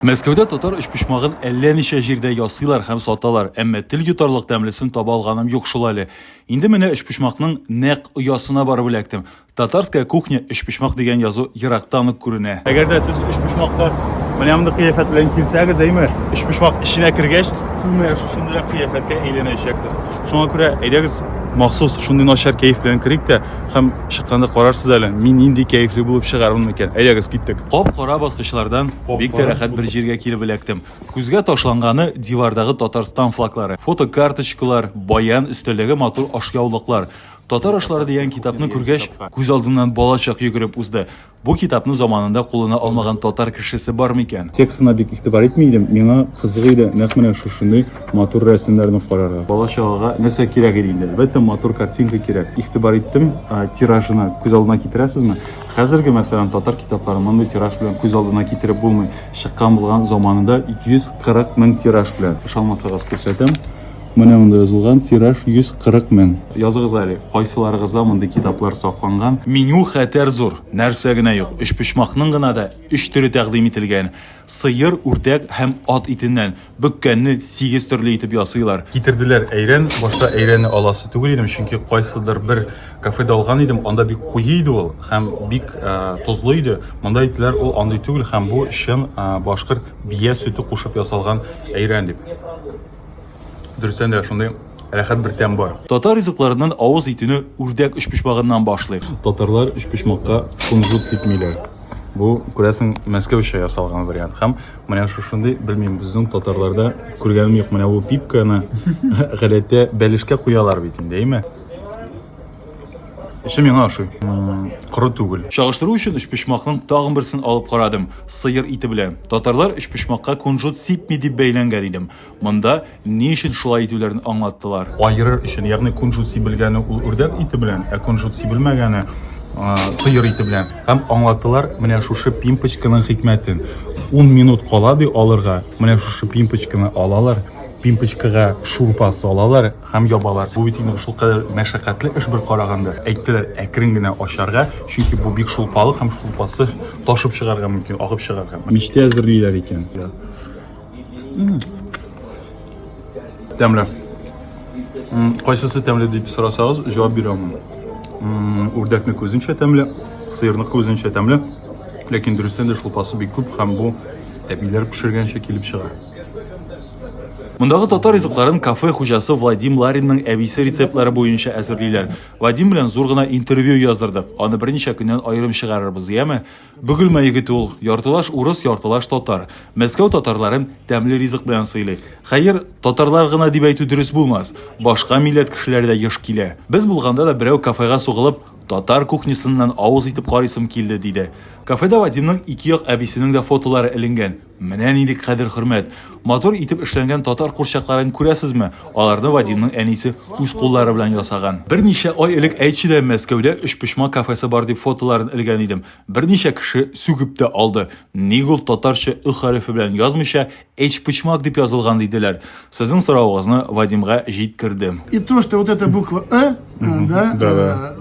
Мәскәүдә татар өчпочмагын әллә ничә җирдә ясыйлар һәм саталар, әмма тел йотарлык тәмлесен таба алганым юк шул әле. Инде менә өчпочмакның нәкъ оясына барып эләктем. Татарская кухня, өчпочмак дигән язу ерактан ук күренә. Әгәр дә сез өчпочмакка менә мондый кыяфәт белән килсәгез, әйме, өчпочмак эченә кергәч, сез менә шушындыйрак кыяфәткә әйләнәчәксез. Шуңа күрә әйдәгез, махсус шундый начар кәеф белән керик тә һәм чыкканда карарсыз әле, мин нинди кәефле булып чыгармын микән. Әйдәгез, киттек. Кап-кара баскычлардан бик тә рәхәт бер җиргә килеп эләктем. Күзгә ташланганы дивардагы Татарстан флаглары, фотокарточкалар, баян, өстәлдәге матур ашъяулыклар. Татар ашлары дигән китапны күргәч, күз алдымнан балачак йөгереп узды. Бу китапны заманында кулына алмаган татар кешесе бар микән? Текстына бик игътибар итми идем, миңа кызык иде нәкъ менә шушындый матур рәсемнәрне карарга. Балачагыга нәрсә кирәк иде инде? Әлбәттә, матур картинка кирәк. Игътибар иттем, тиражына күз алдына китерәсезме? Хәзерге, мәсәлән, татар китапларын мондый тираж белән күз алдына китереп булмый. Чыккан булган заманында 140 мең тираж белән. Ышанмасагыз, күрсәтәм. Менә монда язылган тираж 140 мең. Языгыз әле, кайсыларыгызда мондый китаплар сакланган? Меню хәтәр зур, нәрсә генә юк. Өчпочмакның гына да өч төре тәкъдим ителгән, сыер, үрдәк һәм ат итеннән. Бөккәнне сигез төрле итеп ясыйлар. Китерделәр әйрән, башта әйрәне аласы түгел идем, чөнки кайсыдыр бер кафеда алган идем, анда бик куе иде ул һәм бик ә, тозлы иде. Монда әйттеләр, ул андый түгел һәм бу чын ә, башкорт бия сөте кушып ясалган әйрән дип. Дөрестән дә шундый рәхәт бер тәм бар. Татар ризыкларыннан авыз итүне үрдәк өчпочмагыннан башлыйк. Татарлар өчпочмакка кунжут сипмиләр. Бу, күрәсең, Мәскәүчә ясалган вариант һәм Менә шушындый, белмим, безнең татарларда күргәнем юк. Менә бу пипканы гадәттә бәлешкә куялар бит инде, әйме? Эше миңа ошый. Коры түгел. Чагыштыру өчен өчпочмакның тагын берсен алып карадым. Сыер ите белән. Татарлар өчпочмакка кунжут сипми дип бәйләнгән идем. Монда ни өчен шулай итүләрен аңлаттылар. Аерыр өчен, ягъни кунжут сибелгәне ул үрдәк ите белән, ә кунжут сибелмәгәне сыер ите белән. Һәм аңлаттылар менә шушы пимпочканың хикмәтен. 10 минут кала ди алырга, менә шушы пимпочканы алалар, пимпочкага шурпа салалар һәм ябалар. Бу бит инде шулкадәр мәшәкатьле эш бер караганда. Әйттеләр, әкрен генә ачарга, чөнки бу бик шулпалы һәм шулпасы ташып чыгарга мөмкин, агып чыгарга. Мичтә әзерлиләр икән. Тәмле. Кайсысы тәмле дип сорасагыз, җавап бирә алмыйм. Үрдәкне күзенчә тәмле, сыерны күзенчә тәмле. Ләкин дөрестән дә шулпасы бик күп һәм бу әбиләр пешергәнчә килеп чыга. Мондагы татар ризыкларын кафе хуҗасы Вадим Ларинның әбисе рецептлары буенча әзерлиләр. Вадим белән зур гына интервью яздырдык. Аны берничә көннән аерым чыгарырбыз, яме? Бөгелмә егете ул, яртылаш урыс, яртылаш татар. Мәскәү татарларын тәмле ризык белән сыйлый. Хәер, татарлар гына дип әйтү дөрес булмас, башка милләт кешеләре дә еш килә. Без булганда да берәү кафега сугылып, татар кухнясыннан авыз итеп карыйсым килде, диде. Кафеда Вадимның ике як әбисенең дә фотолары эленгән, Менә нинди кадер-хөрмәт! Матур итеп эшләнгән татар курчакларын күрәсезме? Аларны Вадимның әнисе үз куллары белән ясаган. Берничә ай элек әйтче дә, Мәскәүдә Өчпочмак кафесы бар дип фотоларын элгән идем. Берничә кеше сүгеп тә алды. Ник ул татарча Ө хәрефе белән язмыйча, Эчпочмак дип язылган, диделәр. Сезнең соравыгызны Вадимга җиткердем. И то, что вот эта буква Ы, да, э,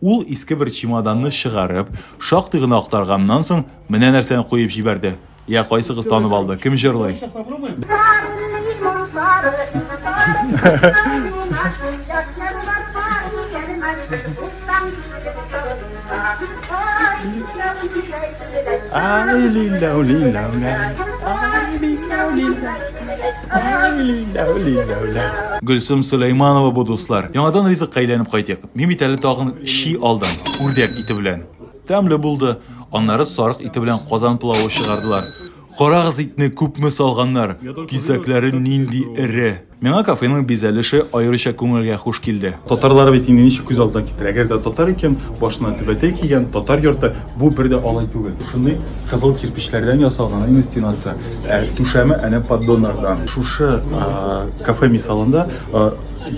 Ул, иске бер чемоданны чыгарып, шактый гына актарганнан соң, менә нәрсәне куеп җибәрде. Я, кайсыгыз танып алды, кем җырлый? Гөлсем Сөләйманова бу, дуслар. Яңадан ризыкка әйләнеп кайтыйк. Мин бит әле тагын чи алдым, үрдәк ите белән. Тәмле булды. Аннары сарык ите белән казан пылавы чыгардылар. Карагыз итне күпме салганнар, кисәкләре нинди эре. Миңа кафеның бизәлеше аеруча күңелгә хуш килде. Татарлар бит инде ничек күз алдына китер, әгәр дә татар икән, башына түбәтәй кигән, татар йорты, бу бер дә алай түгел. Шундый кызыл кирпечләрдән ясалган инде стенасы, ә түшәме әнә поддоннардан. Шушы кафе мисалында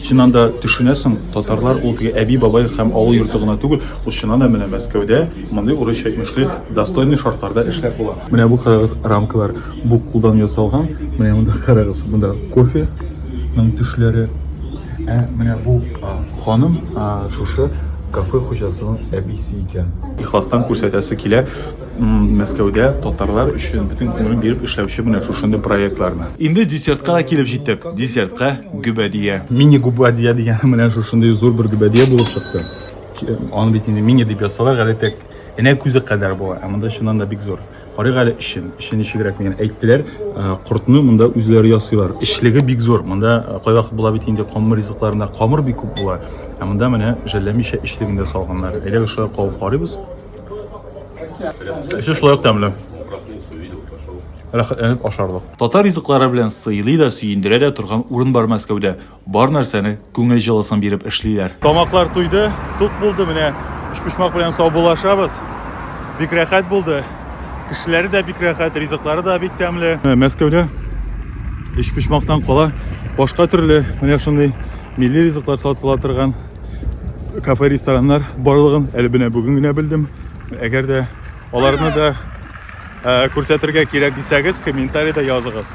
Син анда төшенәсең, татарлар ул теге әби-бабай һәм авыл йорты гына түгел, ул чыннан да менә Мәскәүдә мондый урысча әйтмешли достойный шартларда эшләп була. Менә бу карагыз рамкалар, бу кулдан ясалган, менә монда карагыз, монда кофе ның төшләре. Ә менә бу ханым шушы кафе хуҗасының әбисе икән. Ихластан күрсәтәсе килә. Мәскәүдә татарлар өчен бөтен күңелен биреп эшләүче менә шушындый проектларны. Инде десертка да килеп җиттек. Десертка гөбәдия. Мини губадия дигәне менә шушындый зур бер гөбәдия булып чыкты. Аны бит инде мини дип язсалар, гадәттә энә күзе кадәр була, ә монда чыннан да бик зур. Карыйк әле эчен, эче ничегрәк мигән. Әйттеләр, кортны монда үзләре ясыйлар. Эчлеге бик зур. Монда кайвакыт була бит инде камыр ризыкларында камыр бик күп була. Ә монда менә жәлләмичә эчлегендә салганнар. Әйдәгез шулай кабып карыйбыз. Эче шулай ук тәмле. Рәхәтләнеп ашарлык. Татар ризыклары белән сыйлый да, сөендерә дә торган урын бар Мәскәүдә. Бар нәрсәне күңел җылысын биреп эшлиләр. Тамаклар туйды, тук булды, менә өчпочмак белән саубуллашабыз. Бик рәхәт булды. Кешеләре дә бик рәхәт, ризыклары да бик тәмле. Мәскәүдә өчпочмактан кала башка төрле менә шундый милли ризыклар сатыла торган кафе рестораннар барлыгын әле менә бүген генә белдем әгәр дә аларны да күрсәтергә кирәк дисәгез комментарида языгыз